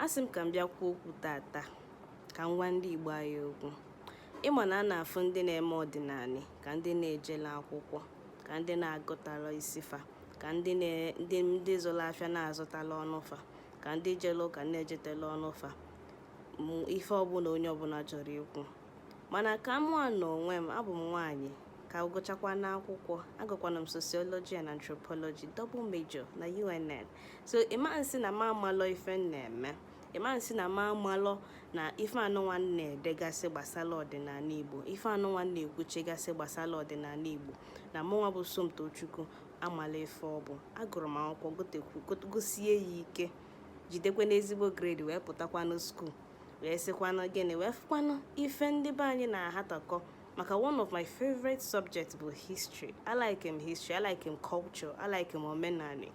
asị m ka m bịa kwuo okwu tata ka m gwa ndị Igbo anyị okwu ị ma na a na-afụ ndị na-eme ọdịnanị ka ndị na-ejela akwụkwọ ka ndị na-agụtala isi fa ka ndị ndị zụrụ afịa na-azụtala ọnụ fa ka ndị jele ụka na-ejetela ọnụ fa ife ọbụla onye ọbụla chọrọ ikwu mana ka mụnwa na onwe m abụ m nwaanyị ka gụchakwanụ akwụkwọ agụkwanụ m sociology and anthropology double major na UNN so ị ma nsị na m amalọ ife m na-eme ị ma nsị na m amalọ na ife anụnwa m na-edegasị gbasara ọdịnanị igbo ife anụnwa m na-ekwuchagasị gbasara ọdịnanị igbo na mụnwa bụ somtochukwu amala ife ọ bụ agụrụ m akwụkwọ gụsie ya ike jidekwanụ ezigbo grade wee pụtakwanụ school wee sịkwanụ gịnị wee fụkwanụ ife ndị be anyị na-ahatọkọ maka one of my favorite subjects bụ history a like m history a like m culture a like m omenanị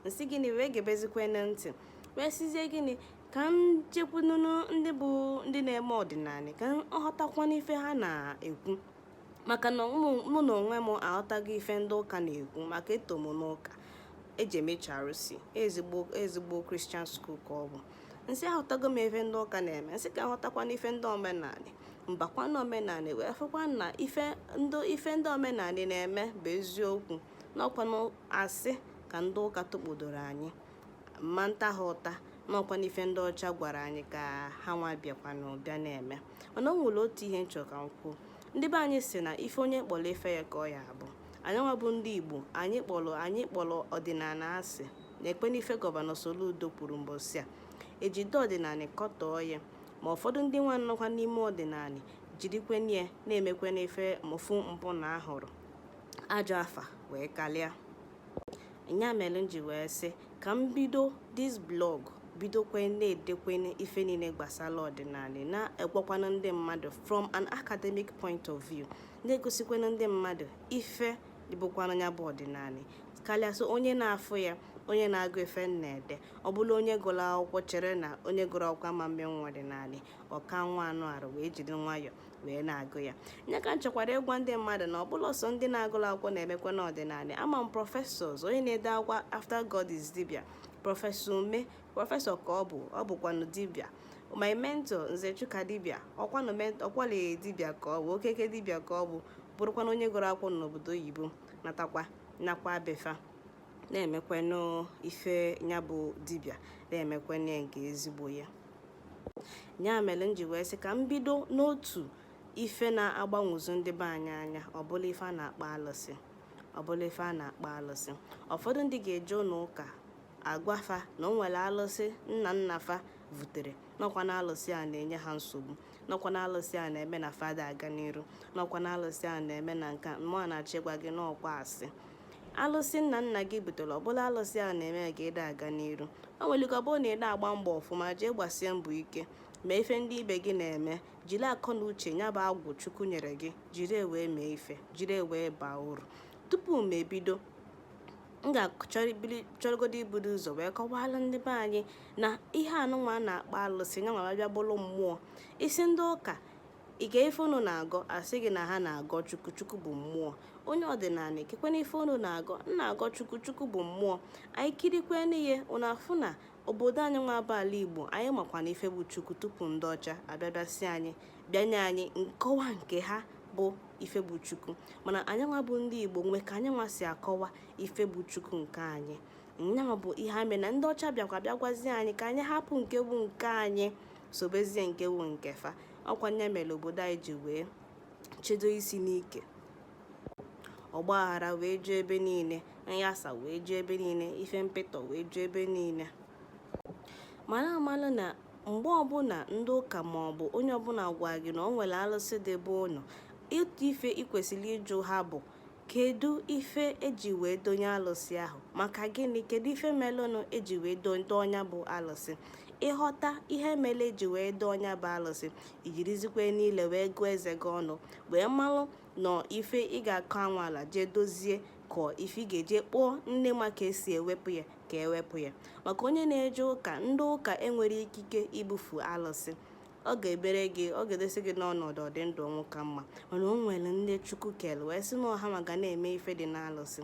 m sị gịnị wee gebezikwanụ ntị wee sịzie gịnị ka m jekwunu ndị bụ ndị na-eme ọdịnanị ka m ghọtakwanụ ife ha na-ekwu maka na mụ- mụ na onwe m aghọtago ife ndị ụka na-ekwu maka eto m n'ụka eji eme charụsi ezigbo ezigbo Christian school ka ọ bụ m sị aghọtago m ife ndị ụka na-eme m sị ka m ghọtakwanụ ife ndị omenanị m bakwa na omenanị wee fụkwa na ife ndị ife ndị omenanị na-eme bụ eziokwu n'ọkwa asị ka ndị ụka tụkpodoro anyị m ma nta ha ụta n'ọkwanụ ife ndị ọcha gwara anyị ka ha nwa bịakwanụ bịa na-eme mana o nwere otu ihe m chọ ka m kwuo ndị be anyị sị na ife onye kpọrọ ife ya ka ọ ya abụ anyị nwa bụ ndị igbo anyị kpọrọ anyị kpọrọ ọdịnanị asị nekwenụ ife gọvanọ Soludo kwuru mbọsị a e jide ọdịnanị kọtọọ ya ma ụfọdụ ndị nwa nọkwa n'ime ọdịnanị jirikwanụ ya na-emekwanụ ife mụfu mpụ na arụrụ ajọ afa wee kalịa nya mere m ji wee sị ka m bido this blog bidokwe na-edekwe ife niile gbasara ọdịnanị na-agwakwanụ ndị mmadụ from an academic point of view na-egosikwanụ ndị mmadụ ife dịbụkwanụ nya bụ ọdịnanị karịa so onye na-afụ ya onye na-agụ ife m na-ede ọ bụlụ onye gụrụ akwụkwọ chere na onye gụrụ akwụkwọ ama mmenwu ọdịnanị ọka nwa anụ arụ wee jiri nwayọọ wee na-agụ ya nya ka m chọkwara ịgwa ndị mmadụ na ọ bụlọ sọ ndị na-agụla akwụkwọ na-emekwanụ ọdịnanị ama m professors onye na-ede akwụkwọ after god is dibia professor Umeh professor ka ọ bụ ọ bụkwanụ dibia my mentor nze chuka dibia ọkwanụ ọkwale dibia ka ọ bụ okeke dibia ka ọ bụ bụrụkwanụ onye gụrụ akwụkwọ n'obodo oyibo natakwa nakwa be fa na-emekwanụ ife ya bụ dibia na-emekwanụ ya nke ezigbo ya nya mere m ji wee sị ka m bido n'otu ife na-agbanwozu ndị be anyị anya ọ bụlụ ife a na-akpọ alụsị ụfọdụ ndị ga-eje ụnọ ụka a gwa fa na o nwere alụsị nna nna fa vutere n'ọkwanụ alụsị a na-enye ha nsogbu n'ọkwanụ alụsị a na-eme na fa da aga n'iru n'ọkwanụ alụsị a na-eme na nke a mụwa na-achọ ịgwa gị n'ọkwa asị alụsị nna nna gị butere ọ bụlọ alụsị a na-eme ka ị da aga n'iru o nwere ike ọ bụrụ na ị da agba mbọ ọfụma jee gbasie mbọ ike ma ife ndị ibe gị na-eme jiri akọ na uche nya bụ agwụ chukwu nyere gị jiri ya wee mee ife jiri ya wee baa uru tupu m ebido m ga-achọrọgodo ibudo ụzọ wee kọwaala ndị be anyị na ihe anụnwa a na-akpọ alụsị nya nwa bịa bụrụ mmụọ ị sị ndị ụka kee ife unu na-agọ a sị gị na ha na-agọ chukwu chukwu bụ mmụọ onye ọdịnala kekwanụ ife unu na-agọ na-agọ chukwu chukwu bụ mmụọ anyị kirikwanụ ihe unu afụ na obodo anyị nwa bụ ala igbo anyị makwanụ ife bụ chukwu tupu ndị ọcha abịa bịa sị anyị bịa nye anyị nkọwa nke ha bụ ife bụ chukwu mana anyị nwa bụ ndị igbo nwe ka anyị nwa si akọwa ife bụ chukwu nke anyị nyanwa bụ ihe mere na ndị ọcha bịakwa bịa gwazie anyị ka anyị hapụ nke bụ nke anyị sobezie nke wu nke fa ọkwa nya mere obodo anyị ji wee chedo isi n'ike ọgba aghara wee ju ebe niile nyasa wee ju ebe niile ife mpịtọ wee ju ebe niile mara amala na mgbe ọbụla ndị ụka ma ọ bụ onye ọbụla gwa gị na o nwere alụsị dị be unu otu ife ị kwesịrị ịjụ ha bụ Kedu ife eji wee donye alụsị ahụ? Maka gịnị? Kedu ife melụnụ eji wee dọọ nya bụ alụsị? Ị ghọta ihe mere eji wee dọọ nya bụ alụsị, i jirizikwanụ ile wee gụọ eze gị ọnụ, wee malụ na ọ ife ị ga-akọ anwa ala jee dozie ka ọ ife ị ga-eje kpọọ ndị ma ka esi ewepụ ya ka e wepụ ya. Maka onye na-eje ụka, ndị ụka enwerọ ikike ibufu alụsị. ọ ga-ebere gị ọ ga-edosi gị n'ọnọdụ ọdị ndụ ọnwụ ka mma mana o nwere ndị chukwu kere wee sị na ọ ha ma ka a na-eme ife dị n'alụsị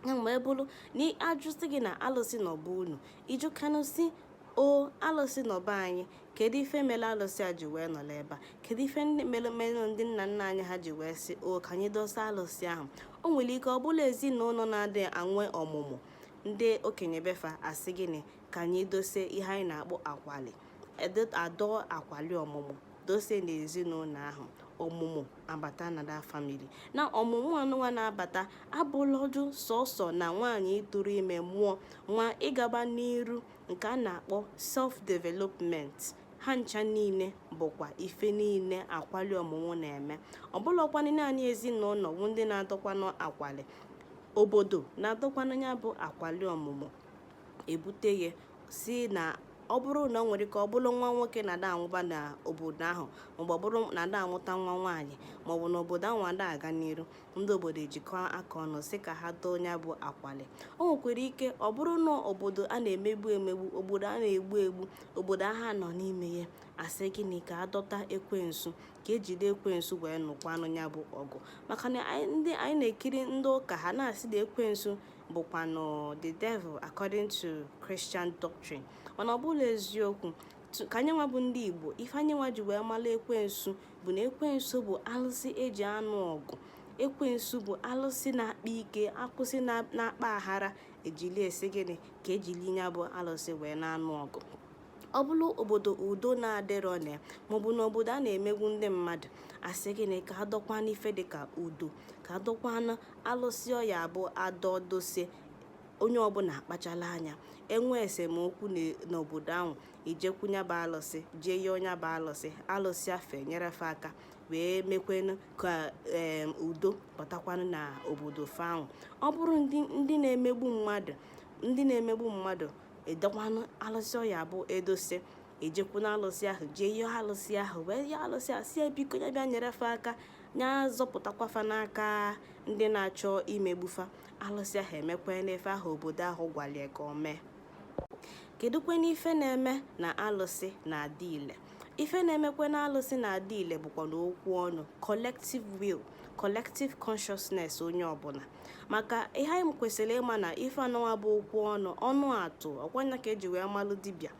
ya mgbe ọ bụrụ na ajụsị gị na alụsị nọ be unu ị jụkwanụ sị o alụsị nọ be anyị kedu ife mere alụsị a ji wee nọrọ ebe a kedu ife mere ndị nna nna anyị ha ji wee sị o ka anyị dose alụsị ahụ o nwere ike ọ bụlụ ezinụnọ na-adị enwe ọmụmụ ndị okenye be fa a sị gịnị ka anyị dose ihe anyị na-akpọ akwali a dọọ akwali ọmụmụ dose n'ezinụnọ ahụ ọmụmụ abata na that family na ọmụmụ anụnwa na-abata abụlọdụ sọsọ na nwaanyị ịtụrụ ime mụọ nwa ịgaba n'iru nke a na-akpọ self development ha ncha niile bụkwa ife niile akwali ọmụmụ na-eme ọ bụlọkwanụ naanị ezinụnọ bụ ndị na-adọkwanụ akwali obodo na-adọkwanụ nya bụ akwali ọmụmụ ebute ya si na ọ bụrụ na ọ nwere ike ọ bụrụ nwa nwoke na-ada amụba n'obodo ahụ maọbụ ọ bụrụ na-ada amụta nwa nwaanyị maọbụ na obodo ahụ ada aga n'iru ndị obodo ejikọ aka ọnụ sị ka ha doo nya bụ akwali o nwekwara ike ọ bụrụ na obodo a na-emegbu emegbu obodo a na-egbu egbu obodo agha nọ n'ime ya asị gịnị ka adọta ekwensu ka ejide ekwensu wee nụkwanụ ya bụ ọgụ maka na anyị na-ekiri ndị ụka ha na-asị na ekwensu bụkwanụ the devil according to Christian doctrine mana ọ bụrọ eziokwu ka anyị nwa bụ ndị Igbo ife anyị nwa ji wee mara ekwensu bụ na ekwensu bụ alụsị eji anụ ọgụ ekwensu bụ alụsị na-akpa ike alụsị na-akpa aghara ejili asị gịnị ka ejili ya bụ alụsị wee na-anụ ọgụ ọ bụrụ obodo udo na-adịrọ na ya maọbụ na obodo a na-emegbu ndị mmadụ asị gịnị ka adọkwanụ ife dịka udo ka adọkwanụ alụsị ọ ya-abụ adọdosie onye ọbụla akpachala anya enwe esemokwu n'obodo ahụ ejekwu nya bụ alụsị jee yọọ nya bụ alụsị alụsị ahụ enyere fa aka wee mekwenụ ka udo batakwanụ na obodo fa ahụ ọ bụrụ ndị na-emegbu mmadụ ndị na-emegbu mmadụ edokwanụ alụsị ọ ya-abụ edosie ejekwu na alụsị ahụ jee yọọ alụsị ahụ wee yọọ alụsị ahụ sị ya biko ya bịa nyere fa aka nya zọpụtakwa fa n'aka ndị na-achọ imegbu fa alụsị ahụ emekwanụ ife ahụ obodo ahụ gwalie ka o mee kedụkwenụ ife na-eme na alụsị na-adị ile ife na-emekwe na alụsị na-adị ile bụkwanụ okwu ọnụ collective will collective consciousness onye ọbụla maka ihe anyị kwesịrị ịma na ife anụnwa bụ okwu ọnụ ọnụ atụ ọ kwa nya ka eji wee malụ dibịa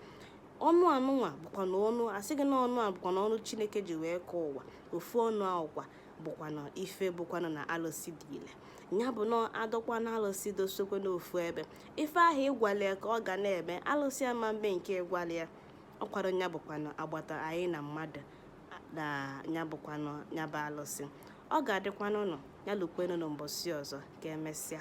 ọnụ anụnwa bụkwanụ ọnụ asị gị na ọnụ a bụkwanụ ọnụ chineke ji wee kee ụwa ofu ọnụ ahụkwa bụkwanụ ife bụkwanụ na alụsị dị ile ya bụ na adọkwanụ alụsị dosokwa n'ofu ebe ife ahụ ị gwalụ ya ka ọ ga na-eme alụsị ama mbe nke ị gwalụ ya ọkwado ya bụkwanụ agbata anyị na mmadụ na ya bụkwanụ ya bụ alụsị ọ ga-adịkwanụ nọ ya lukwenụ n'ụbọsị ọzọ ka emesịa